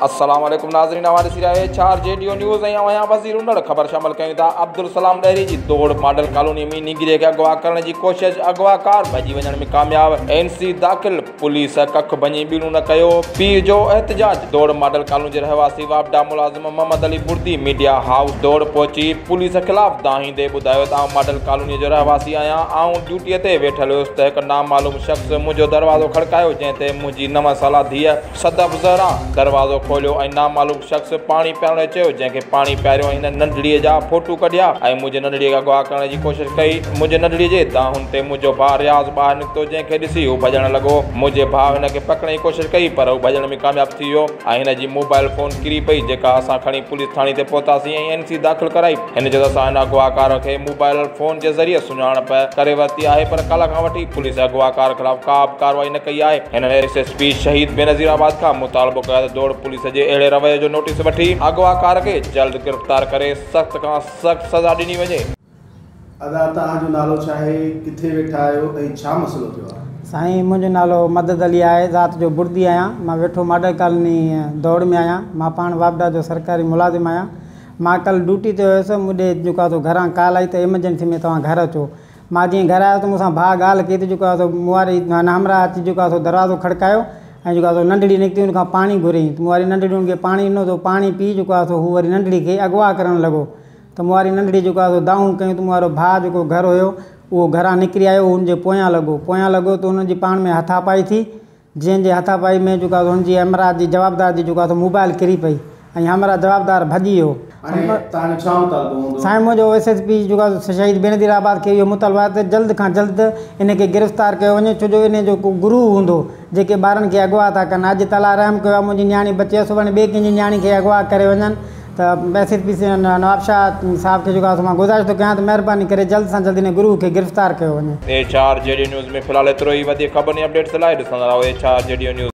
السلام عليڪم ناظرين اوهان ڏسي رهيا ايڇ آر جي ڊيو نيوز ۽ اوهان وزير انڙ خبر شامل ڪيون ٿا عبدالسلام ڏهري جي دوڙ ماڊل ڪالوني ۾ نينگري کي اغوا ڪرڻ جي ڪوشش اغوا ڪار ڀڄي وڃڻ ۾ ڪامياب اين سي داخل پوليس ڪک ڀڃي ٻيڻو نه ڪيو پيء جو احتجاج دوڙ ماڊل ڪالوني جي رهواسي واپڊا ملازم محمد علي بڙدي ميڊيا هائوس ڊوڙ پهچي پوليس خلاف دانهيندي ٻڌايو ته آئون ماڊل ڪالوني جو رهواسي آهيان، آئون ڊيوٽي تي ويٺل هيس ته هڪ نامعلوم شخص منهنجو دروازو کڙڪايو جنهن تي منهنجي نو سالا ڌيء صدف زهرا دروازو کوليو ۽ نامعلوم شخص پاڻي پيارڻ جو چيو جنهن کي پاڻي پياريو ۽ هن ننڍڙي جا ڦوٽو ڪڍيا ۽ منهنجي ننڍڙي کي اغوا ڪرڻ جي ڪوشش ڪئي، منهنجي ننڍڙي جي دانهن تي منهنجو ڀاء رياض ٻاهر نڪتو جنهن کي ڏسي هو ڀڄڻ لڳو، منهنجي ڀاء هن کي پڪڙڻ جي ڪوشش ڪئي پر هو ڀڄڻ ۾ ڪامياب ٿي ويو. ۽ هن جي موبائيل فون ڪري پئي جيڪا اسان کڻي پوليس ٿاڻي تي پهتاسين ۽ اين سي داخل ڪرائي هن چيو ته اسان هن اغواڪار کي موبائيل فون جي ذريعي سڃاڻپ ڪري ورتي آهي پر ڪلهه کان وٺي پوليس اغواڪار خلاف ڪابه ڪارروائي نه ڪئي آهي هنن S S P Shaheed Benazir آباد کان مطالبو ڪيو آهي ته دوڙ پوليس جي اهڙي رويي جو نوٽيس وٺي اغواڪار کي جلد گرفتار ڪري سخت کان سخت سزا ڏني وڃي. ادا توهان جو نالو ڇا آهي ڪٿي ويٺا آهيو ۽ ڇا مسئلو ٿيو آهي. سائين منهنجو نالو مدد علي آهي ذات جو بڙدي آهيان مان ويٺو ماڊل ڪالوني دوڙ ۾ آهيان مان پاڻ واپڊا جو سرڪاري ملازم آهيان مان ڪل ڊوٽي تي هيس مون ڏي جيڪو آهي سو گهران ڪال آئي ته ايمرجنسي ۾ توهان گهر اچو مان جئين گهر آيو ته مون سان ڀاء ڳالهه ڪئي ته جيڪو آهي سو مون واري همراهه اچي جيڪو آهي سو دروازو کڙڪايو ۽ جيڪو آهي سو ننڍڙي نڪتي ان کان پاڻي گهريائين ته مون واري ننڍڙي ان کي پاڻي ڏنو ته هو پاڻي پي جيڪو آهي سو هو وري ننڍڙي کي اغوا ڪرڻ لڳو ته مون واري ننڍڙي جيڪو آهي سو دانهون ڪيون ته مون وارو ڀاء جيڪو گهر هيو اهو گهران نڪري آيو هو ان جي پويان لڳو پويان لڳو ته ان جي پاڻ ۾ هٿا پائي ٿي جنهن جي هٿا پائي ۾ جيڪو آهي سو ان جي همراهه جي جوابدار جي جيڪو آهي سو موبائل ڪري پئي ۽ همراهه جوابدار ڀڄي ويو سائين منهنجو ايس ايس پي جيڪو آهي شهيد بينظير آباد کي اهو مطالبو آهي ته جلد کان جلد ان کي گرفتار ڪيو وڃي ڇو جو ان جو ڪو گرو هوندو جيڪي ٻارن کي اغوا ٿا ڪن اڄ تعاليٰ رحم ڪيو آهي منهنجي نياڻي بچي آهي سڀاڻي ٻي ڪنهن جي نياڻي کي اغوا ڪري وڃن ته S S P Nawab Shah صاحب کي جيڪو آهي سو مان گذارش ٿو ڪيان ته مهرباني ڪري جلد سان جلد ان گروهه کي گرفتار ڪيو وڃي. ايڇ آر جيڊيو نيوز ۾ في الحال ايترو ئي وڌيڪ خبرن ۽ اپڊيٽس لاء ڏسندا رهو ايڇ آر جيڊيو نيوز.